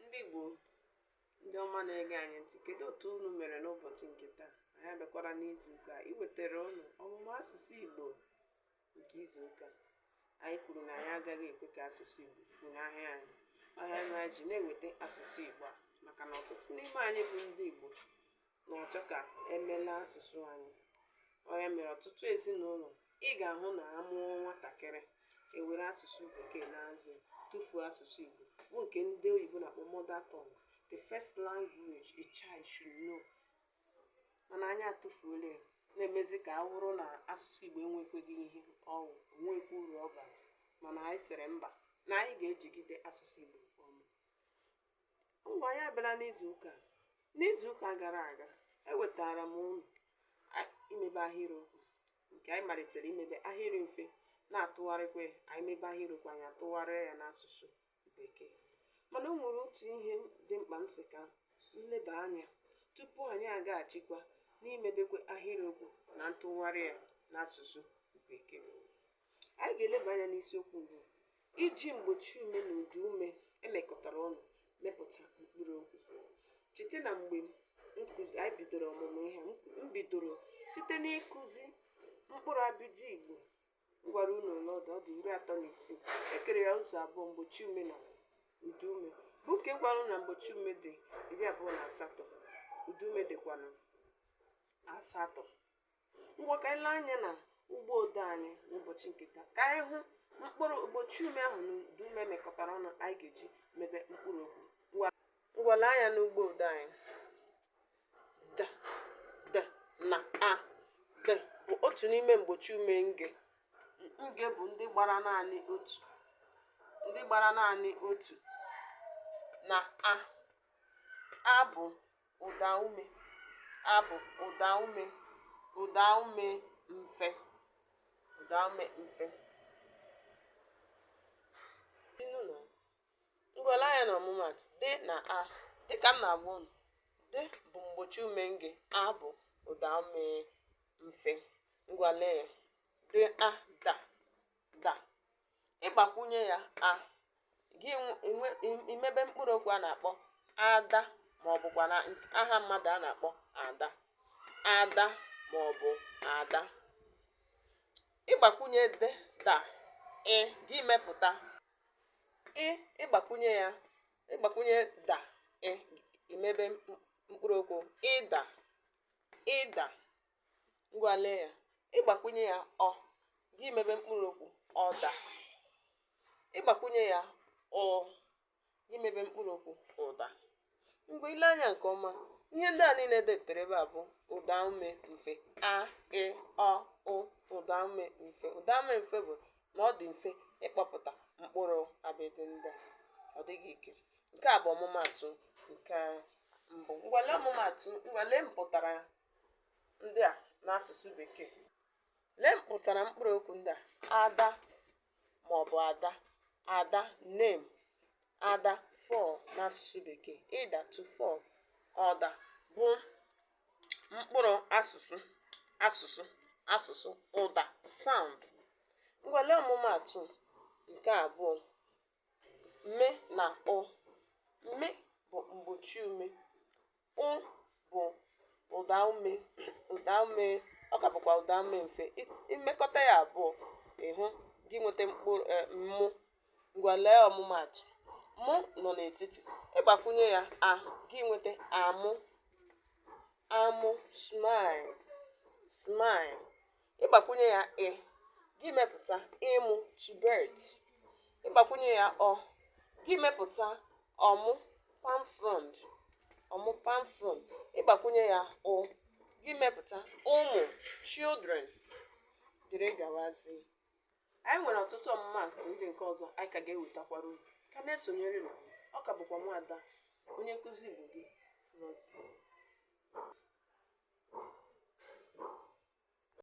ndị Igbo ndị ọma na-ege anyị ntị kedu otu unu mere n'ụbọchị nke taa anyị abịakwara n'izu ụka iwetara unu ọmụmụ asụsụ Igbo nke izu ụka anyị kwuru na anyị agaghị ekwe ka asụsụ Igbo funahụ anyị ọ ya mere anyị ji na-eweta asụsụ Igbo a maka na ọtụtụ n'ime anyị bụ ndị Igbo na-achọ ka emela asụsụ anyị ọ ya mere ọtụtụ ezinụlọ ị ga-ahụ na a mụọ nwatakịrị e were asụsụ bekee na-azụ tụfuo asụsụ Igbo bụ nke ndị oyibo na-akpọ mother tongue the first language a child should know mana anyị atụfuola ya na-emezi ka ọ wụrụ na asụsụ Igbo enwekwaghị ihe ọ wụ o nwekwa uru ọ bara mana anyị sịrị mba na anyị ga-ejigide asụsụ Igbo ọma Ngwa anyị abịala n'izu ụka. N'izu ụka gara aga, ewetara m unu a- imebe ahịrịokwu nke anyị malitere imebe ahịrị mfe na-atụgharịkwa ya. anyị mebe ahịrịokwu anyị atụgharịa ya n'asụsụ bekee mana o nwere otu ihe dị mkpa m sị ka m leba anya tupu anyị agaghachikwa n'imebekwa ahịrịokwu na ntụgharị ya n'asụsụ bekee anyị ga-eleba anya n'isiokwu bụ iji mgbochi ume na ụdaume mekọtara ọnụ mepụta mkpụrụ okwu cheta na mgbe anyị bidoro ọmụmụ ihe a, m bidoro site n'ịkụzi mkpụrụ abịdị igbo m gwara unu ole ọ dị ọ dị iri atọ na isii e kere ya ụzọ abụọ mgbochi ume na ụdaume bụ nke m gwara unu na mgbochi ume dị iri abụọ na asatọ ụdaume dịkwanụ asatọ ngwa ka anyị lee anya na ugbo odee anyị n'ụbọchị nke taa ka anyị hụ mkpụrụ mgbochi ume ahụ na ụdaume mekọtara ọnụ anyị ga-eji mebe mkpụrụ okwu ngwa lee anya n'ugbo odee anyị d d na a d bụ otu n'ime mgbochi ume nge nge bụ ndị gbara naanị otu na a a bụ ụdaume, a bụ ụdaume, ụdaume mfe, ụdaume mfe. Ngwa lee anya na ọmụmaatụ d na a dịka m na-agwa unu d bụ mgbochi ume nge a bụ ụdaume mfe. Ngwa lee ya d a da da ị gbakwunye ya a gị emebe mkpụrụ okwu a na-akpọ ada ma ọ bụkwa na aha mmadụ a na-akpọ ada ada ma ọ bụ ada ị gbakwunye de da ị gị emepụta ị ị gbakwunye ya ị gbakwunye da ị ị mebe mkpụrụ okwu ịda ịda ngwa lee ya ị gbakwunye ya ọ gị mebe mkpụrụ okwu ọda ị gbakwunye ya ụ gị mebe mkpụrụ okwu ụda mgbe i lee anya nke ọma ihe ndị a niile depụtara ebe a bụ ụda ume mfe a ị ọ ụ ụda ume mfe ụda ume mfe bụ na ọ dị mfe ịkpọpụta mkpụrụ abịdị ndị a ọ dịghị ike nke a bụ ọmụmaatụ nke mbụ ngwa lee ọmụmaatụ ngwa lee mpụtara ndị a n'asụsụ Bekee. Lee mpụtara mkpụrụ okwu ndị a ada ma ọ bụ ada ada name ada fall n'asụsụ Bekee ịda to fall ọda bụ mkpụrụ asụsụ asụsụ asụsụ ụda sound ngwa lee ọmụmaatụ nke abụọ mme na ụ mme bụ mgbochi ume ụ bụ ụda ume ụda ume ọ ka bụkwa ụda ume mfe i mekọta ya abụọ ị hụ gị nweta mkpụrụ e, mụ ngwa lee ọmụmaatụ mụ nọ n'etiti ị gbakwunye ya a gị nweta amụ amụ smile smile ị gbakwunye ya ị gị mepụta ịmụ to birth ị gbakwunye ya ọ gị mepụta ọmụ palm frond ọmụ palm frond ị gbakwunye ya ụ gị mepụta ụmụ children dịrị gawazi anyị nwere ọtụtụ ọmụmaatụ ndị nke ọzọ anyị ka ga-ewetakwara unu ka na-esonyere na ọ ka bụkwa nwada onye nkụzi igbo gị Florence.